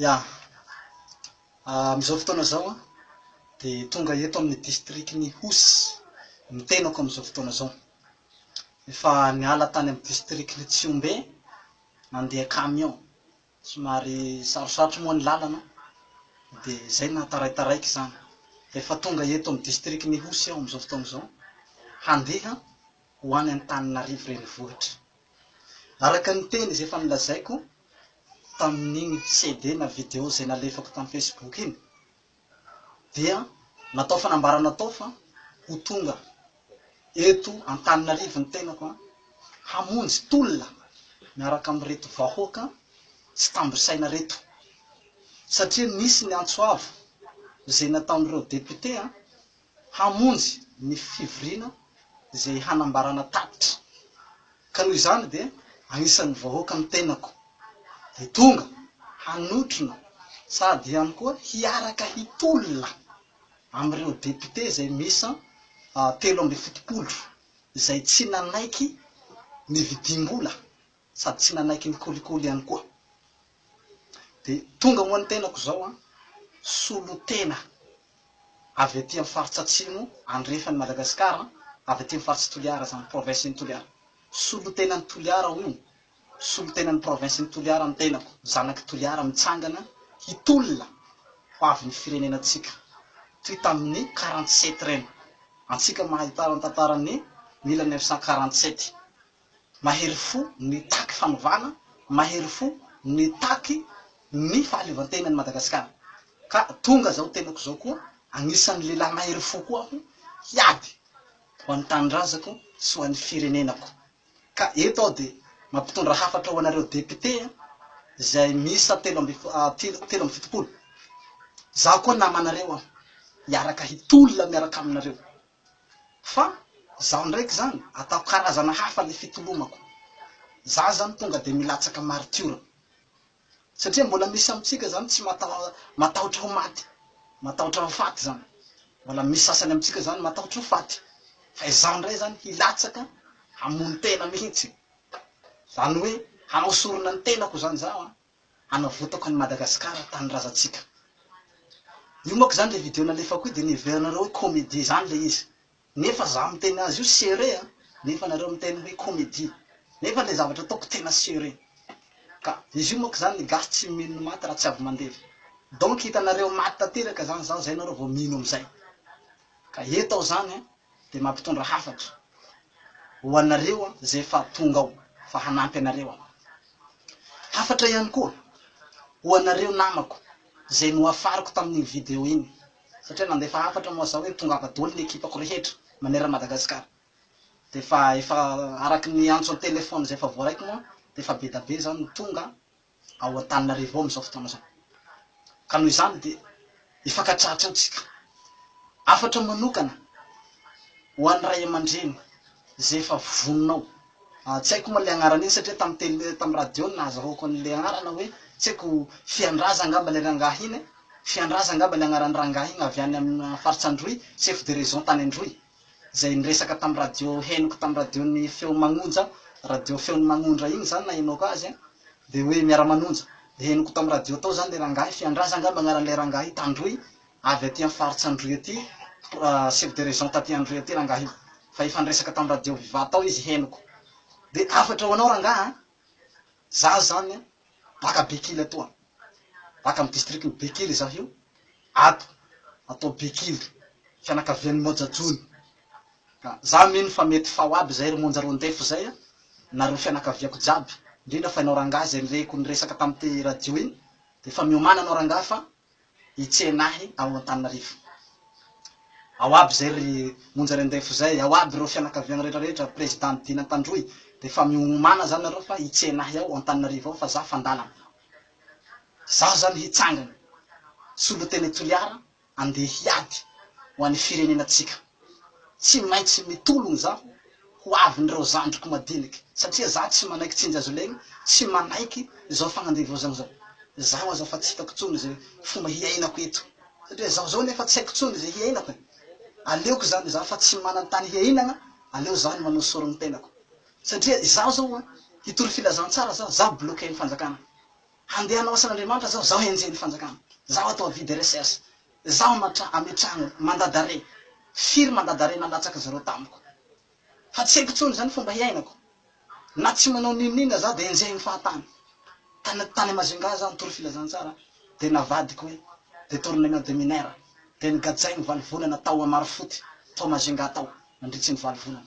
Ya. Amin'izao fotoana izao an, dia tonga eto amin'ny distrikan'i Ihosy ny tenako amin'izao fotoana izao. Efa niala tany amin'ny distrikan'i Tsihombe nandeha camion. Somary sarosarotry moa ny lalana, dia izay no nahataraitaraiko izany. Dia efa tonga eto amin'ny distrikan'i Ihosy aho amin'izao fotoana izao, handeha ho any Antananarivo renivohitra. Araka ny teny izay efa nolazaiko tamin'iny CD na video izay nalefako tamin'ny Facebook iny dia natao fanambarana tao fa ho tonga eto Antananarivo ny tenako hamonjy tolona miaraka amin'ireto vahoaka tsy tambo saina ireto satria nisy ny antso avo izay nataon'ireo député hamonjy ny fivoriana izay hanambarana tatitra ka noho izany dia anisan'ny vahoaka ny tenako dia tonga hanotrona sady ihany koa hiaraka hitolona amin'ireo députés izay miisa telo ambin'ny fitopolo izay tsy nanaiky ny vidim-bola sady tsy nanaiky ny kolikoly ihany koa. Dia tonga moa ny tenako izao an, solontena avy aty amin'ny faritra atsimo andrefan'i Madagasikara an, avy aty amin'ny faritry Toliara izany, province n'i Toliara. Solontenan'i Toliara ao io, solontenan'ny province n'i Toliara ny tenako, zanak'i Toliara mitsangana hitolona ho avin'ny firenenantsika, toy tamin'ny quarante sept ireny, antsika mahahitara ny tantaran'ny mille neuf cent quarante sept, mahery fo nitaky fanovana, mahery fo nitaky ny fahaleovantena an'i Madagasikara. Ka tonga izao tenako izao koa, anisan'ny lehilahy mahery fo koa aho hiady ho an'ny tanindrazako sy ho an'ny firenenako. Ka eto aho dia mampitondra hafatra ho anareo députés izay miisa telo amby telo amby fitopolo. Izaho koa namanareo aho, hiaraka hitolona miaraka aminareo. Fa izaho ndraiky izany ataoko karazana hafa ilay fitolomako. Izaho izany tonga dia milatsaka maritiora. Satria mbola misy amintsika izany tsy matahotra ho maty, matahotra ho faty izany. Mbola misy sasany amintsika izany matahotra ho faty. Fa izaho indray izany hilatsaka hamono tena mihitsy. Izany hoe hanao sorona ny tenako izany izaho an! hanavotako an'i Madagascar tanindrazantsika. Io manko zany le video nalefako io de nieverinareo hoe comedie zany le izy. Nefa za miteny azy io serie a, nefa nareo miteny hoe comedie. Nefa le zavatra ataoko tena serie. Ka izy io manko zany ny gasy tsy mino ny maty raha tsy avy mandevy. Donc hitanareo maty tanteraka zany zaho zay nareo vao mino amizay. Ka eto aho zany a. dia mampitondra hafatra ho anareo izay efa tonga ao fa hanampy anareo aho. Hafatra ihany koa ho anareo namako izay nohafariko tamin'iny video iny satria nandefa hafatra moa zao hoe tongava doly ny ekipako rehetra manerana Madagasikara dia efa efa araky ny antso an-telephone izay efa voaraiko moa dia efa be da be izany ny tonga ao Antananarivo ao amin'izao fotoana izao. Ka noho izany dia hifankatratra ao isika. Hafatra manokana ho an'ny ray aman-dreny izay efa vonona ao. Tsy haiko moa ilay anarana iny satria tamin'ny tele, tamin'ny radio no nahazahoako an'ilay anarana hoe, tsy haiko, Fiandraza angamba ilay rangahy iny e! Fiandraza angamba ilay anaran'ny rangahy iny avy any amin'ny faritsy Androy, chef de région tany Androy. izay niresaka tamin'ny radio henoko tamin'ny radion'ny feo magnonja radio feon'ny magnondra iny zany nahenoako azy an, dia hoe miara-manonja, dia henoko tamin'ny radio tao zany le rangahy, Fiandraza angamba agnaran'ilay rangahy, Tandroy, avy aty amin'ny faritsy Androy aty, chef de région taty Androy aty rangahy io, fa efa niresaka tamin'ny radio viva tao izy henoko, dia hafatra ho anao rangahy an! Za zany an, baka Bekily ato an, baka amin'ny district ny Bekily za io, ato atao Bekily, fianakavian'ny Moja Jony, ka za mino fa mety fao aby zay ry Monja ro ndefa zay an, nareo fianakaviako jiaby, indrindra fa enao rangah zay nirehiko niresaka tamin'ity radio iny, dia efa miomana anao rangah fa hitsena ahy ao Antananarivo ao aby zay ry monja rendefo zay ao aby reo fianakaviagna rehetra rehetra president dina tandroy de fa miomana zany nareo fa hitsena ahy ao Antananarivo ao fa za fandalana zaho zany hitsangana solotene Toliara andeha hiady ho any firenena tsika. Tsy maintsy mitologno zaho ho avin'ireo zandriko madiniky satria za tsy manaiky tsy njazolegny, tsy manaiky zao fagnandevozagna zao. Zaho aza fa tsy hitako tsony ze fomba hiainako eto satria zaho zao nefa tsy haiko tsony ze hiainako e. Aleoko zany za fa tsy manan-tany hiainagna, aleo za no manao sorogny tenako. Satria izaho zao a, hitory filazantsara zaho, zaho bloquer ny fanjakana. Handeha hanao asan'Andriamanitra zaho, zaho enjehin'ny fanjakana. Zaho atao avis de recherche. Zaho matra ametrahana mandat d'arret, firy mandat d'arret nalatsaka zareo tamiko. Fa tsy haiko tsony zany fomba hiainako. Na tsy manao n'inon'inona za de enjehin'ny fahatany. Tany tany Majunga za nitory filazantsara de navadiko hoe detournement de mineur de nogadrainy valo volana tao Amarifoty tao Majunga tao nandritry ny valo volana.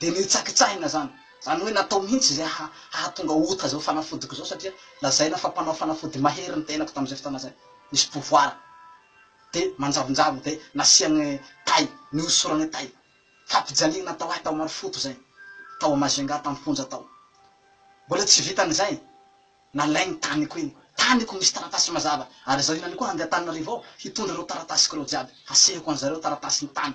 de ny hitsakitsahina zany, zany hoe natao mihintsy zay hahatonga ota zao fanafodiko zao satria lazaina fa mpanao fanafody mahery ny tenako tamzay fotoana zay, nisy pouvoir de manjavonjavona de nasiany tay, nihosorany tay, fampijaliana natao ahy tao Marofoto zay, tao a Majunga tam fonja tao, mbola tsy vitan'izay, nalay ny taniko iny, taniko misy taratasy mazava, ary zao hinany koa hande Antananarivo aho hitondra reo taratasiko reo jiaby, hasehoko anzareo taratasy ny tany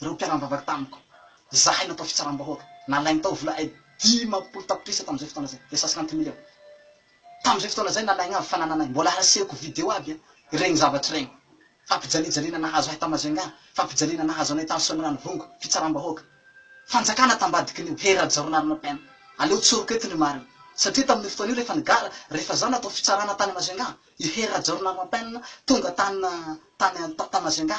ireo mpiara-nivavaka tamiko, izahay natao fitsaram-bahoaka, nalainy tao vola ay dimampolo tapitrisa tamin'izay fotoana izay, dia cent cinquante millions. Tamin'izay fotoana izay nalainy avy fa nananay, mbola hasehoko video aby an, ireny zavatra ireny. Fampijaliajaliana nahazo ahy tao Majunga, fampijaliana nahazo anay tany Soanierano Vongo, fitsaram-bahoaka. Fanjakana tambadikin'io, Hery Rajaonarina PM, aleo tsoriko eto ny marina. Satria tamin'io fotoana io rehefa nigara, rehefa izaho natao fitsarana tany Majunga, i Hery Rajaonarina PM tonga tany, tany, tany Majunga,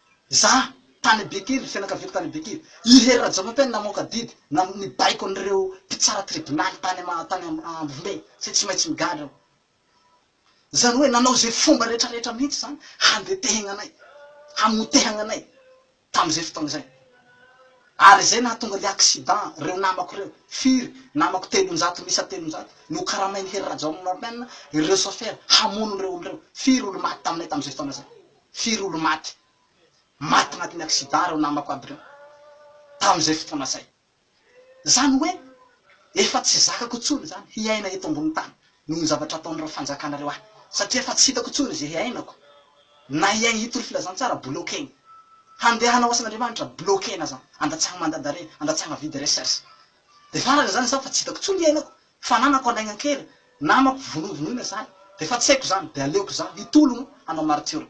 Za tany Betily, fianakaviako tany Betily, i Hery Rajaonampeno namoaka didy na nibaiko an'ireo mpitsara tribonaly tany ama tany am Ambombe satria tsy maintsy migadra aho. Zany hoe nanao ze fomba retraretra mihitsy zany handetehagna anay, hamotehagna anay tam'zay fotoagna zay. Ary zay nahatonga le accident reo namako reo, firy, namako telonjato miisa telonjato, nokaramain'i Hery Rajaonampeno ireo sôfera hamono reo olo reo, firy olo maty taminay tam'zay fotoagna zay. Firy olo maty? Maty agnatin'ny accident reo namako aby reo tamin'izay fotoana zay. Zany hoe efa tsy zakako tsony zany hiaina eto ambony tany noho ny zavatra ataon'ireo fanjakana reo ahy satria efa tsy hitako tsony ze hiainako na hiaigny hitory filazantsara bloquegny handeha hanao asan'Andriamanitra bloquena zany andatsahagny mandadare andatsahagna vide recherche de farany zany zaho fa tsy hitako tsony hiainako Fananako alaigna kely, namako vonovonoina zany de efa tsy haiko zany de aleoko za hitologno hanao maritiora.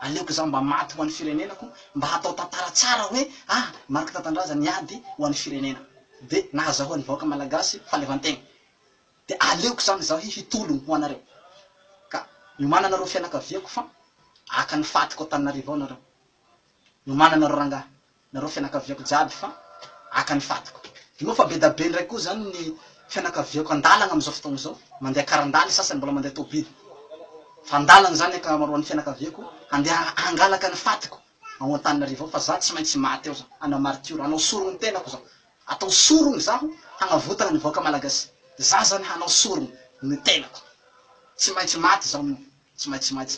Aleoko za mba maty ho an'ny firenenako mba hatao tantara tsara hoe ah Marc Tatandraza niady ho an'ny firenena de nahazahoan'ny vahoaka malagasy fahaleovantegna. De aleoko zany zaho hi hitologno ho anareo. Ka miomana anareo fianakaviako fa haka ny fatiko Antananarivo ao nareo. Miomana anareo rangahy. nareo fianakaviako jiaby fa aka ny fatiko inao fa bedabe ndray koa zany ny fianakaviako andalagna amizao fotoagna izao mandeha karandaha ny sasany mbola mandeha tobily fa andalagna zany akamaroany fianakaviako handeha hangalaka ny fatiko ao antananarivo ao fa za tsy maintsy maty ao za hanao martiora hanao sorogno tenako za atao sorogno zaho hagnavotagna ny vahoaka malagasy za zany hanao sorogno ny tenako tsy maintsy maty zaho no tsy maintsy maty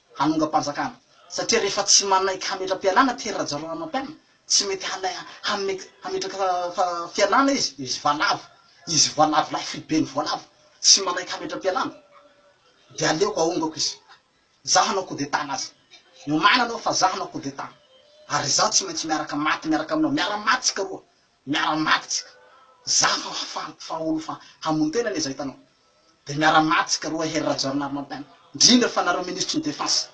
hanongam-panjakana, satria rehefa tsy manaiky hametra-pialana Pierre Rajaonarimampianina, tsy mety hanai hametraka fialana izy, izy valavo, izy valavo lahy foiben'ny voalavo, tsy manaiky hametra-pialana, dia aleoko ahongako izy, izaho hanao coup d'état an'azy, omaina anao fa izaho hanao coup d'état, ary izaho tsy maintsy miaraka maty miaraka aminao, miara-maty isika roa, Miara maty tsika za fa hafaly fa olo fa hamono tena anie za hitanao de miara maty tsika roa hery Rajaonarimampianina ndrindra fa nareo minisitry ny defense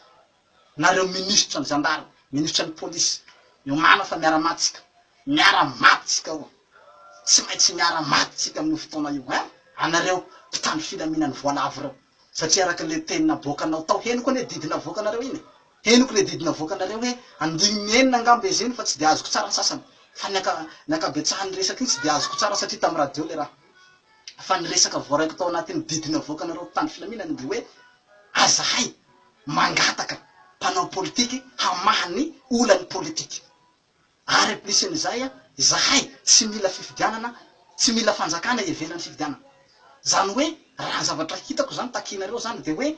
nareo minisitra ny zandary minisitra ny police miomana fa miara maty tsika miara maty tsika oa tsy maintsy miara maty tsika aminio fotoana io hein anareo mpitandro filaminany voalavo reo. Satria araka le teny naboakanao tao henoko anie didy navoakanareo iny e! Henoko le didy navoakanareo hoe andininy enina angamba izy iny fa tsy de azoko tsara ny sasany fa ny anka ny ankabetsahan'ny resaka iny tsy de azoko tsara satria tamin'ny radio le raha fa ny resaka voaraiko tao anatin'ny didy navoakanareo mpitandro filaminana de hoe azahay mangataka mpanao politique hamaha ny olan'ny politique. Ary ampisin'izay, izahay tsy mila fifidianana, tsy mila fanjakana ivelan'ny fifidianana. Izany hoe, raha ny zavatra hitako izany takianareo izany dia hoe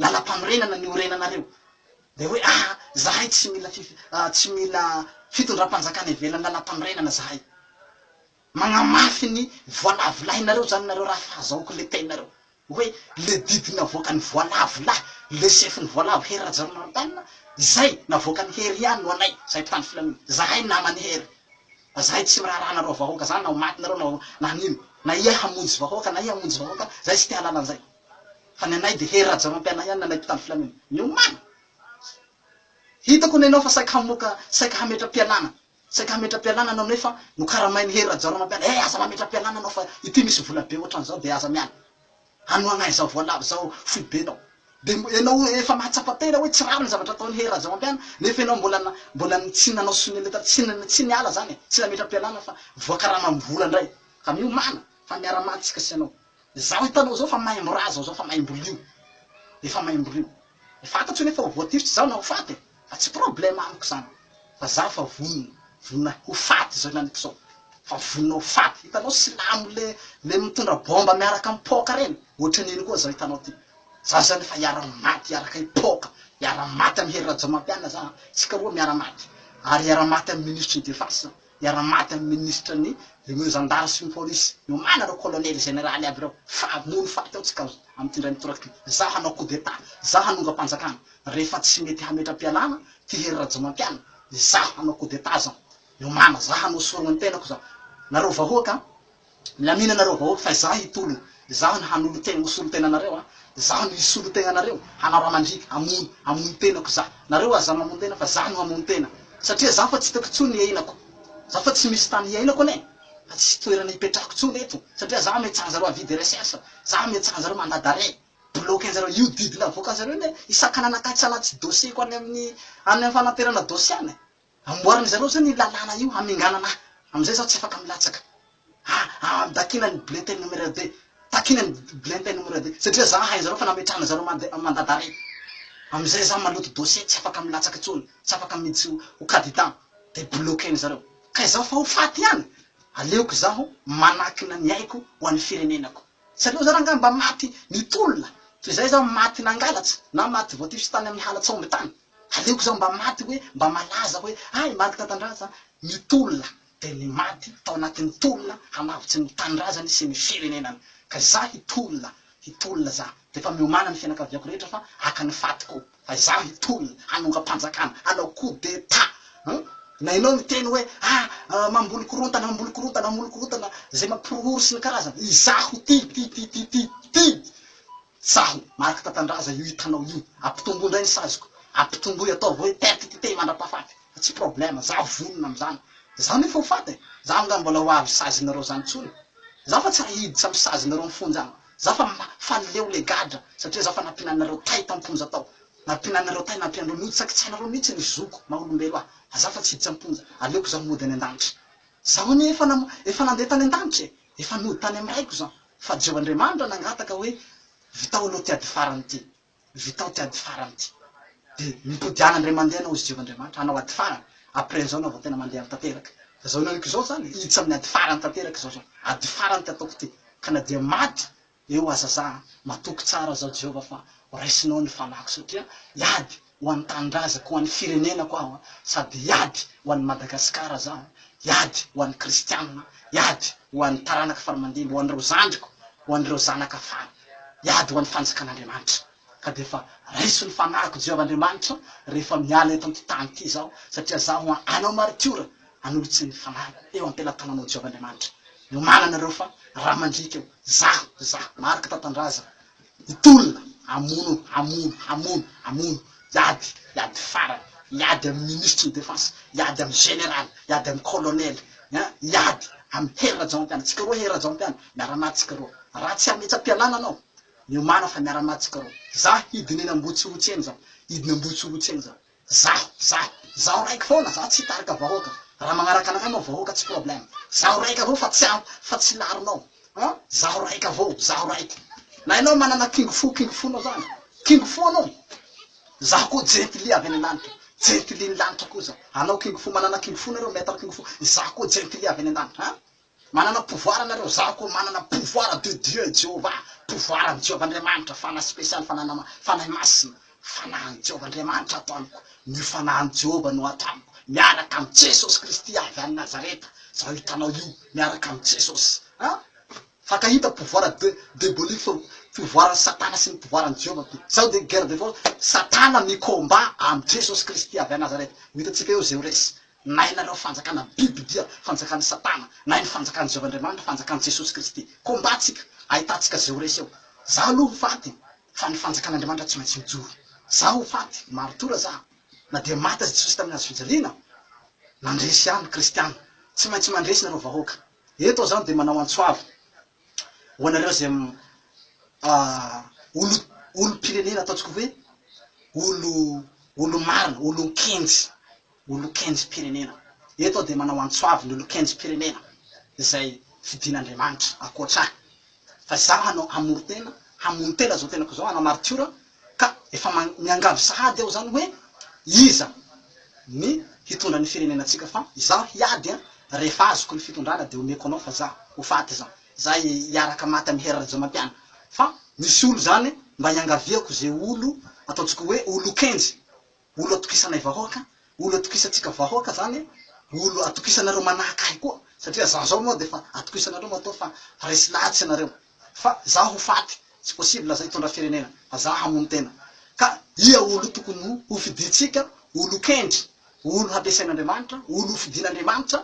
lalam-panorenana ny orenanareo. Dia hoe ah, izahay tsy mila fifi, tsy mila fitondram-panjakana ivelan'ny lalam-panorenana izahay. Magnamafy ny voalavolahinareo zany nareo raha fahazahoako le teninareo hoe le didy navoakan'ny voalavo lahy le sefon'ny voalavo Hery Rajaonarimampianina izay navoakan'i Hery ihany no anay zahay mpitandro filaminana zahay naman'i Hery fa zahay tsy miraharaha anareo vahoaka zany na ho maty nareo na ho na nino na iha hamonjy vahoaka na iha hamonjy vahoaka zahay tsy te halala an'izay fa ny anay de Hery Rajaonarimpianina ihany ny anay mpitandro filaminana miomana hitako ny anao fa saika hamoaka saika hametra-pialana Saika hametra-pialana anao nefa nokaramain'i Hery Rajaoramanpiala, eh aza mametra-pialana anao fa ity misy vola be ohatran'izao dia aza miala. Hanohagna izao voalavo izao foibenao. Dia mbo ianao efa mahatsapa tena hoe tsy rariny zavatra ataon'i Hery Rajaoampiana nefa ianao mbola mbola tsy nanao sonia letra tsy tsy niala izany e, tsy nametra-pialana fa voakaramam-bola indray. Ka miomàna fa miara-maty isika sy ianao. Izao hitanao izao fa maimbo ra zao zao fa maimbo lio. Efa maimbo lio. Fantatro nefa ho voatifitra izaho na ho faty e! Fa tsy problème amiko izany. Fa za fa vonona, vonona ho faty izao inaniko izao. Fa vonona ho faty. Hitanao silamo le le mitondra bomba miaraka am paoka reny? Ohatran'iny koa zao hitanao ty. Za zany efa hiara maty hiaraka i paoka. Hiara maty am hery Rajaomampianina za a. Tsika roa miara maty. Ary hiara maty am minisitry ny defense za. hiara-maty amin'ny minisitra ny ireo zandary sy ny polisy nomana ireo kolonely zeneraly aby ireo fa hamono faty ao tsika amin'ity indray mitoraka ity zah hanao coup d'etat zah hanongam-panjakana rehefa tsy mety hametra-pialana ty hery rajaomampianina izah hanao coup d'etat zah miomana zah hanao sorona ny tenako zah nareo vahoaka Milamina nareo vahoaka fa izaho hitolona, izaho no hanolotena, ho solontena anareo an, izaho no hisolo tegna anareo, hanao raha mandriaka, hamono, hamono tenako izaho, nareo aza mamono tena fa izaho no hamono tena, satria izaho fa tsy hitako intsony ny hiainako, izaho fa tsy misy tany hiainako anie, fa tsisy toerana hipetrahako intsony eto, satria izaho ametraha anjareo avis de recherche, izaho ametraha anjareo mandat d'arret, bloquer anjareo, io didy navoakanjareo io anie hisakanana akatsa anaty dossier-ko any amin'ny any amin'ny fanaterana dossier any, Amboarin'ny zareo zany io lalàna io haminganana ahy amizay zaho tsy afaka milatsaka ah ah dakina ny bulletin numerer de takina ny bulletin numerer de satria za hain zareo fa nametrahana zareo mande mandat d'arret amizay za maloto dossier tsy afaka milatsaka tsony tsy afaka miditsy ho cadidan de bloquer-ny zareo ka izaho fa ho faty ihany aleoko izaho manakina ny aiko ho an'ny firenenako tsy aleo za rangah mba maty nitolona toy izay za maty nangalatsa na maty voatifitsy tany amin'ny hala tsaombin-tany Aleoko za mba maty hoe mba malaza hoe hay maty tantandraza ny tolona dia ny maty tao anatin'ny tolona hanavotsy ny tanindrazany sy ny firenenany ka za hitolona hitolona za dia efa miomana ny fianakaviako rehetra fa haka ny fatiko fa za hitolona hanongam-panjakana hanao coup d'etat hum na ianao miteny hoe ah mamboly korontana mamboly korontana mamboly korontana zay mampihorohoro sy ny karazany izaho ty ty ty ty ty ty Tsaho! Mariky Tatandraza io hitanao io! Ampitomboy indray ny saziko! Ampitomboy! Ataovy hoe perte d'identité mandrapahafaty! Fa tsy problème! Za vonona amin'izany! Za nefa ho faty e! Za angaha mbola ho avy sazinareo izany intsony! Za fa tsy raha hiditra amin'ny sazinareo mifonja any! Za fa ma, fa leo le gadra! Satria za fa nampiananareo tay tam-ponja tao! Nampiananareo tay, nampianareo mihitsy! Tsy ankitsahinareo mihitsy ny zoko maha olombelo ahy! Fa za fa tsy hiditra am-ponja! Aleoko za mody any an-danitra! Zaho anie efa nam, efa nandeha tany an-danitra e! Efa nody tany am raiko zan fa jeo Andriamanitra nangataka hoe vitao aloha ty ady farany ty vitao ty ady farany ty de mitodiana ndray mandeha anao izy jeo Andriamanitra hanao ady farany après an'zao anao vao tena mandeha am tanteraka zao naniko zao zany hiditra amin'ny ady farany tanteraka zao zao ady farany ty ataoko ty ka na dia maty Eo aza za a! Matoky tsara zao Jehovah fa ho raisinao ny fanahiko satria hiady ho an'ny tanindrazako, ho an'ny firenenako aho a! Sady hiady ho an'i Madagasikara za a! Hiady ho an'ny kristianina, hiady ho an'ny taranaka faramandimby, ho an'ireo zandriko, ho an'ireo zanaka fara, hiady ho an'ny fanjakan'Andriamanitra. ka dia efa raiso ny fanahiko Jehovah Andriamanitro rehefa miala eto amin'ity tany ity izaho, satria izaho hoa hanao maritiora hanolotra ny fanahy eo am-pelatananao Jehovah Andriamanitro iomanana anareo fa raha mandriaka eo izaho, izaho, Marc Tantandraza, hitolona hamono, hamono, hamono, hamono, hiady, hiady farany, hiady amin'ny minisitry ny defense, hiady amin'ny général, hiady amin'ny colonel, hein, hiady amin'ny Hery Rajaonampianina, tsika roa Hery Rajaonampianina, miara-maty tsika roa, raha tsy hametsa-pialana anao, Miomàna fa miara-maty tsika roa. Zaho hidina eny Ambohitsirotsy eny zaho. Hidina Ambohitsirotsy eny zaho. Zaho, zaho. Zaho raiky foana, zaho tsy hitarika vahoaka. Raha magnaraka anakahy moa vahoaka tsy problème. Zaho raiky avao fa tsy aho, fa tsy laronao. An! Zaho raiky avao, zaho raiky. Na ianao manana kingo fo, kingo fonao zany. Kingo fo anao. Zaho koa jentilly avy any an-danitra. Jentilly ny lanitra koa zaho. Anao kingo fo, manana kingo fo nareo, maître kingo fo. Izaho koa jentilly avy any an-danitra. An! Manana pouvoir nareo zaho koa manana pouvoir de Dieu i Jehovah pouvoir an'i Jehovah Andriamanitra fanahy spécial fanana fanahy masina fanahin'i Jehovah Andriamanitra ato amiko ny fanahin'i Jehovah no ato amiko miaraka amin'i Jesosy Kristy avy any Nazareta zaho hitanao io miaraka amin'i Jesosy a fankahita pouvoir de debolique fa pouvoiran'i Satana sy ny pouvoiran'i Jehovah ko zaho dia guerre de force Satana mi combat amin'i Jesosy Kristy avy any Nazareta ho hitantsika eo izay ho resy Na ianareo fanjakana biby dia fanjakan'i satana na ny fanjakan'i Jehovah Andriamanitra, fanjakan'i Jesosy Kristy. Combat tsika, ahitantsika ze ho resy eo. Zaho aloha ho faty fa ny fanjakan'Andriamanitra tsy maintsy mijoro. Zaho ho faty, martora zaho. Na dia maty aza Jesosy tamin'ny hazo fijaliana, nandresy ihany kristiana. Tsy maintsy mandresy nareo vahoaka. Eto aho zany dia manao antsoava ho anareo ze olo olompirenena ataontsika hoe olo olo marina, olon-kenjy. ho lokenjom-pirenena. Eto aho dia manao antso avo ny lokenjom-pirenena izay fidin'Andriamanitra ankoatra ahy. Fa izaho hanao hamoron-tena, hamono-tena izao tenako izao, hanao maritiora, ka efa miangavy sahady aho izany hoe iza ny hitondra ny firenenantsika fa izaho hiady an! rehefa azoko ny fitondrana dia omeko anao fa izaho ho faty izany, izaho hiaraka maty amin'i Hery Rajaomampiana fa misy olo izany mba iangaviako izay olo ataontsika hoe ho lokenjy Olo atokisanay vahoaka, olo atokisantsika vahoaka zany, olo atokisanareo manahaka ahy koa, satria za zao moa defa atokisanareo matoa fa resy lahitsy ianareo, fa za ho faty, tsy possible aza hitondra firenena, fa za hamono tena, ka ia olo tokony hofidintsika, olo kendry, olo hampiasain'Andriamanitra, olo hofidin'Andriamanitra,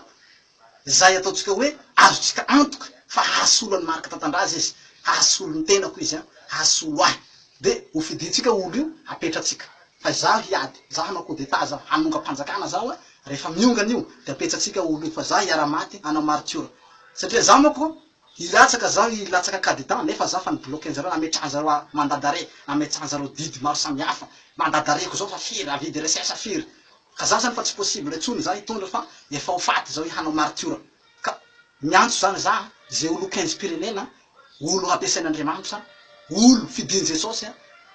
izay ataontsika hoe azontsika antoka fa hahasolo an'i Marc Tatandraza izy, hahasolo ny tenako izy an, hahasolo ahy, dia hofidintsika olo io hapetratsika, fa izaho hiady, izaho hanao coup d'etat zao, hanongam-panjakana zaho an, rehefa miongana io dia apetsatsika olo io, fa izaho hiara-maty hanao martiora, satria izaho manko hilatsaka zaho hilatsaka cas d'etat nefa izaho efa ni-bloquer-njareo, nametrahan'zareo mandat d'arret, nametsahan'zareo didy maro samihafa, mandat d'arret-ko zao efa firy, avis de recherche firy, Ka za zany fa tsy possible intsony za hitondra fa efa ho faty zao i hanao maritiora ka miantso zany za ze olo kenjim-pirenena olo hampiasain'Andriamanitra olo fidiny Jesosy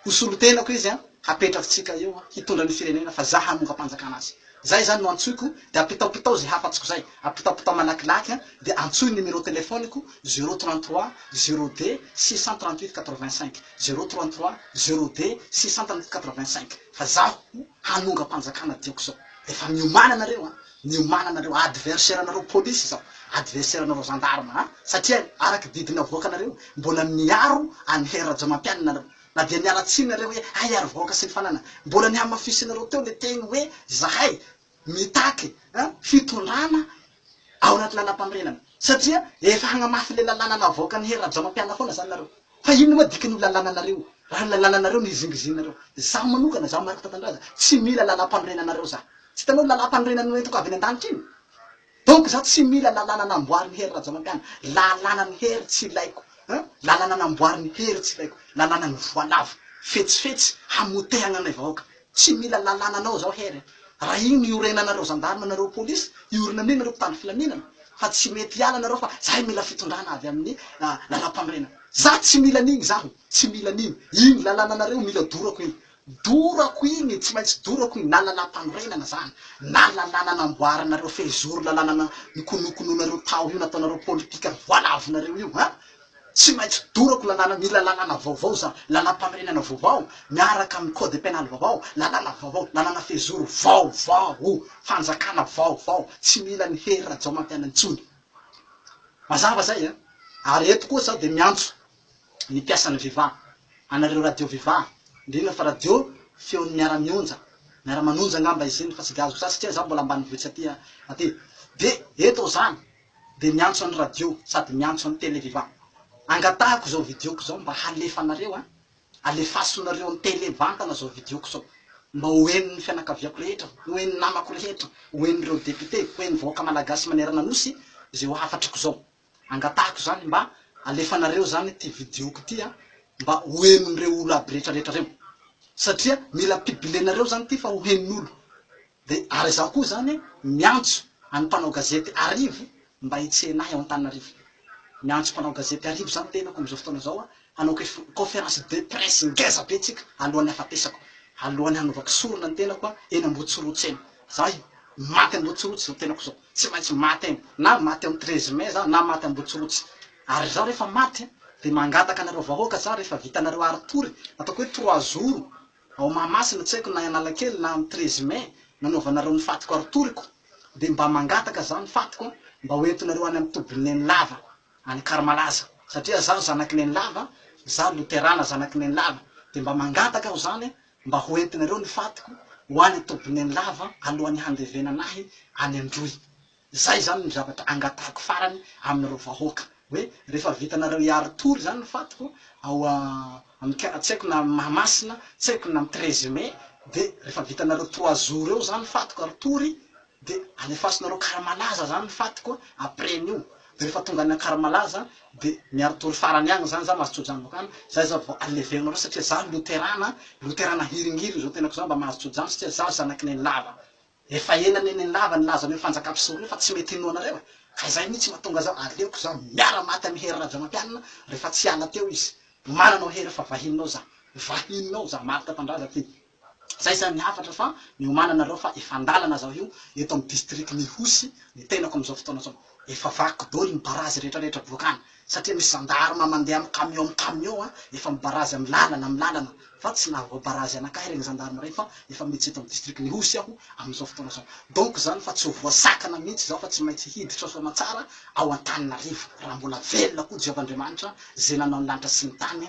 ho solotenako izy hapetrakitsika eo hitondra ny firenena fa za hanongam-panjakana azy zay zany no antsoiko de apitaopitao ze hafatsiko zay apitaopitao malakilaky de antsoy numéro telefoniko zero trente trois zero deux six cent trente huit quatre vingt cinq zero trente trois zero deux six cent trente huit quatre vingt cinq. Fa zaho hanongam-panjakana tiako zao, rehefa miomana nareo an, miomana nareo adversaire nareo police zao, adversaire nareo gendarme an, satria araky didy navoakanareo mbola niaro an'i Hery Rajamampianina nareo, na dia niala tsiny nareo hoe hay ary vahoaka sy ny fananana, mbola nihamafisinareo teo le teny hoe zahay mitaky fitondrana ao anaty lalampanorenana satria efa hagnamafy le lalàna navoakan'i Hery Rajaomampianina foana zany nareo fa inona moa dikan'io lalànanareo raha le lalànareo no hizingizininareo zaho manokana zaho Marc Tatandraza tsy mila lalampanorenanareo zaho tsy hitanao lalampanorenana noentiko avy any an-danitra iny Donc za tsy mila lalàna namboarin'i Hery Rajaonapiana, lalànan'i Hery tsy ilaiko hein, lalàna namboarin'i Hery tsy ilaiko, lalànan'ny voalavo, fetsifetsy, hamotehagna anay vahoaka, tsy mila lalànanao zaho Hery a, raha igny no iorenanareo zandarma nareo polisy, iorina amin'igny nareo mpitandro filaminana, fa tsy mety hiala nareo fa zahay mila fitondrana avy amin'ny lalam-panorenana, za tsy mila an'igny zaho, tsy mila an'igny, igny lalànanareo mila dorako igny, Dorako iny, tsy maintsy dorako iny, na lalàmpanorenana zany, na lalàna namboaranareo fehizoro, lalàna nikonokonoinareo tao io, nataonareo politika voalavinareo io an! Tsy maintsy dorako lalàna, mila lalàna vaovao za, lalàmpanorenana vaovao, miaraka amin'ny code pénal vaovao, lalàna vaovao, lalàna fehizoro vaovao, fanjakana vaovao, tsy mila an'i Hery Rajaomantaina intsony. Mazava zay an! Ary eto koa za dia miantso ny mpiasan'ny Viva, anareo radio Viva, indrindra fa radio feon'ny miara mionja, miara manonja angamba izy iny fa tsy diaziko zany satria za mbola ambanivohitsy aty a, aty de eto aho zany de miantso an'i radio sady miantso an'i tele Viva, angatahako izao video-ko izao mba halefanareo a, alefasonareo amin'ny tele mivantana izao video-ko izao, mba ho henon'ny fianakaviako rehetra, ho henon'ny namako rehetra, ho henon'ireo député, ho henon'ny vahoaka malagasy manerana nosy izay ho hafatrako izao. Angatahiko izany mba alefanareo izany ity video-ko ity an, mba ho henon'ireo olo aby rehetra rehetra ireo. Satria mila pibilenareo izany ity fa ho henon'olo. Dia ary izaho koa izany miantso an'ny mpanao gazety arivo mba hitsena ahy ao Antananarivo. Miantso mpanao gazety arivo izany tenako amin'izao fotoana izao an, hanao conférence de presse ngeza be tsika alohan'ny hafatesako, alohan'ny hanaovako sorona ny tenako an, eny Ambohitsorotsy eny. Izaho maty Ambohitsorotsy izao tenako izao. Tsy maintsy maty any, na maty am treize mai za, na maty ambotsirotsy. Ary za rehefa maty dia mangataka anareo vahoaka za rehefa vitanareo haritory, ataoko hoe trois jours ao Mahamasina tsy haiko na Analakely na am treize mai nanaovanareo ny fatiko haritoriko dia mba mangataka za ny fatiko mba ho entinareo any am tobin'i Nenilava any Anakarmalaza satria za zanaky Nenilava, za Loterana zanaky Nenilava dia mba mangataka aho zany mba ho entinareo ny fatiko ho any Tobinenilava alohan'ny handevenana ahy any Androy. Izay izany no zavatra angatahiko farany aminareo vahoaka, hoe rehefa vitanareo hiaro tory izany ny fatiko ao amin'ny kara, tsy haiko na amin'ny Mahamasina, tsy haiko na amin'ny Treize Mai, dia rehefa vitanareo trois jours eo izany fatiko ary tory, De alefasinareo Karamalaza zany ny fatiko après an'io de refa tonga any Ankaramalaza de miaro tory farany agny zany za mahazo tsojanoka any zay za vao aleverinareo satria za loterana loterana hiringiriny zao tenako za mba mahazo tsojano satria za zanaky nenilava efa ela ne nenilava nilaza an'io fanjaka mpisoro io fa tsy mety hinoa anareo e ka zay mitsy matonga za aleoko za miara maty amy Hery Rajaomampianina refa tsy hiala teo izy omaly anao Hery fa vahininao za vahininao za marika tandraza ty. Zay zany ny hafatra fa niomananareo fa efa andalana zao io eto am district Mihosy ny tenako amzao fotoana zao efa vaky doly ny barazy rehetra rehetra boaka any satria misy gendarme mandeha am camion am camion a efa mibarazy am lalana am lalana fa tsy nahavoa barazy anakahy regny gendarme regny fa efa mitsy eto am district Mihosy aho amzao fotoana zao donc zany fa tsy ho voasakana mintsy zao fa tsy maintsy hiditra soamatsara ao Antananarivo raha mbola velona koa Jehovah Andriamanitra ze nanao ny lanitra sy ny tany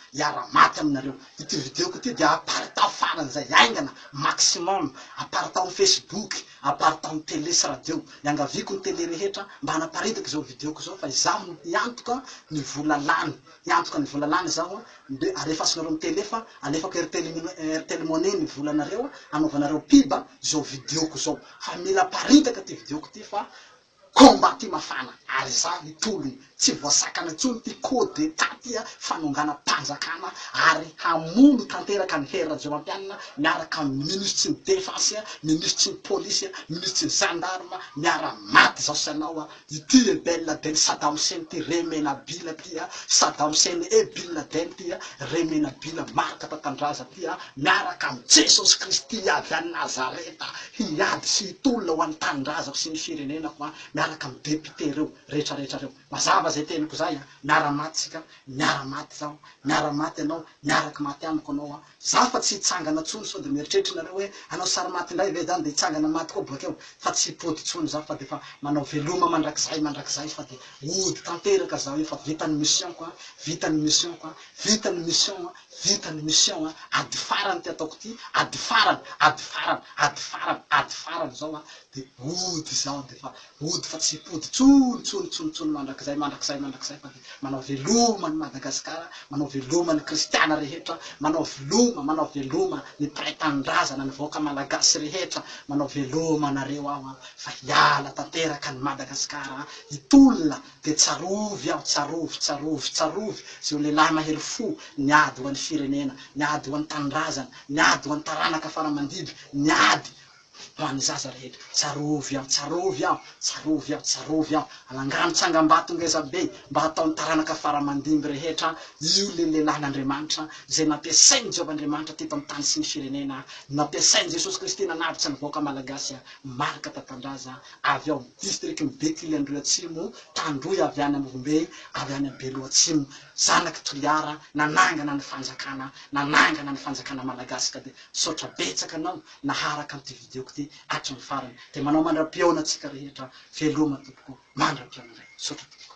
hiara maty aminareo. Ity video-ko ity dia aparitaho faran'izay haingana, maximum, aparitaho amin'ny facebook, aparitaho amin'ny tele sy radio. Iangaviako ny tele rehetra mba hanaparitaka izao video-ko izao fa izaho no hiantoka ny vola lany. Hiantoka ny vola lany izaho dia alefasinareo amin'ny tele fa alefako Airtel Airtel money ny volanareo hanaovanareo pub izao video-ko izao. Fa mila aparitaka ity video-ko ity fa Combat ty mafana ary izaho hitologno tsy voasakana intsony ty coup d'etat ty ah fanongana panjakana ary hamono tanteraka an'i Hery Rajaomampianina miaraka amin'ny minisitry ny defense ah minisitry ny polisy ah minisitry ny gendarme miara maty zao sy anao ah ity eh ben laden sadam hussein ty re menabila ty ah sadam hussein eh bin laden ty ah re menabila marika tantandraza ty ah miaraka amin'i jesosy kristy avy any nazareta Hiady sy hitolona ho an'ny tanindrazako sy ny firenenako aho miaraka amin'ny députés reo rehetra rehetra reo. Mazava zay teniko zay a! Miara maty tsika, miara maty zaho, miara maty ianao, miaraky maty amiko anao a! Zaho fa tsy hitsangana tsony sao de mieritreritra nareo hoe hanao sary maty indray ve zany de hitsangana maty koa boakeo? Fa tsy hipody tsony zaho fa de efa manao veloma mandrakizay mandrakizay fa de hody tanteraka zaho io fa vita ny mission-ko a! Vita ny mission-ko a! Vita ny mission-ko a! Vita ny mission a! Ady farany ity ataoko ity, ady farany, ady farany, ady farany, ady farany izao a! de hody izaho de efa hody fa tsy hipody intsony, intsony, intsony, intsony mandrakizay, mandrakizay, mandrakizay fa dia manao veloma an'i Madagasikara, manao veloma ny kristiana rehetra, manao veloma, manao veloma ny mpiray tanindrazana, ny vahoaka malagasy rehetra, manao veloma anareo aho a! fa hiala tanteraka an'i Madagasikara a! hitolona dia tsarovy aho, tsarovy, tsarovy, tsarovy izao lehilahy mahery fo niady ho an'ny firenena, niady ho an'ny tanindrazana, niady ho an'ny taranaka faramandidy, niady ho an'ny zaza rehetra. Tsarovy aho, tsarovy aho, tsarovy aho, tsarovy aho. Anangano tsangambato ngeza be mba hataon'ny taranaka faramandimby rehetra io ilay lehilahin'Andriamanitra izay nampiasain'i Jehovah Andriamanitra teto amin'ny tany sy ny firenena, nampiasain'i Jesosy Kristy nanavotra ny vahoaka Malagasy marika tatandraza. avy ao amin'ny distrikan'i Betily Androy-Atsimo, Tandroy avy any Ambombe, avy any amin'ny Beloha Atsimo, zanaky Toliara, nanangana ny fanjakana, nanangana ny fanjakana malagasy ka dia misaotra betsaka anao naharaka an'ity video-ko ity hatramin'ny farany, dia manao mandra-pihaona antsika rehetra, veloma tompoko, mandra-pihaona indray, misaotra tompoko.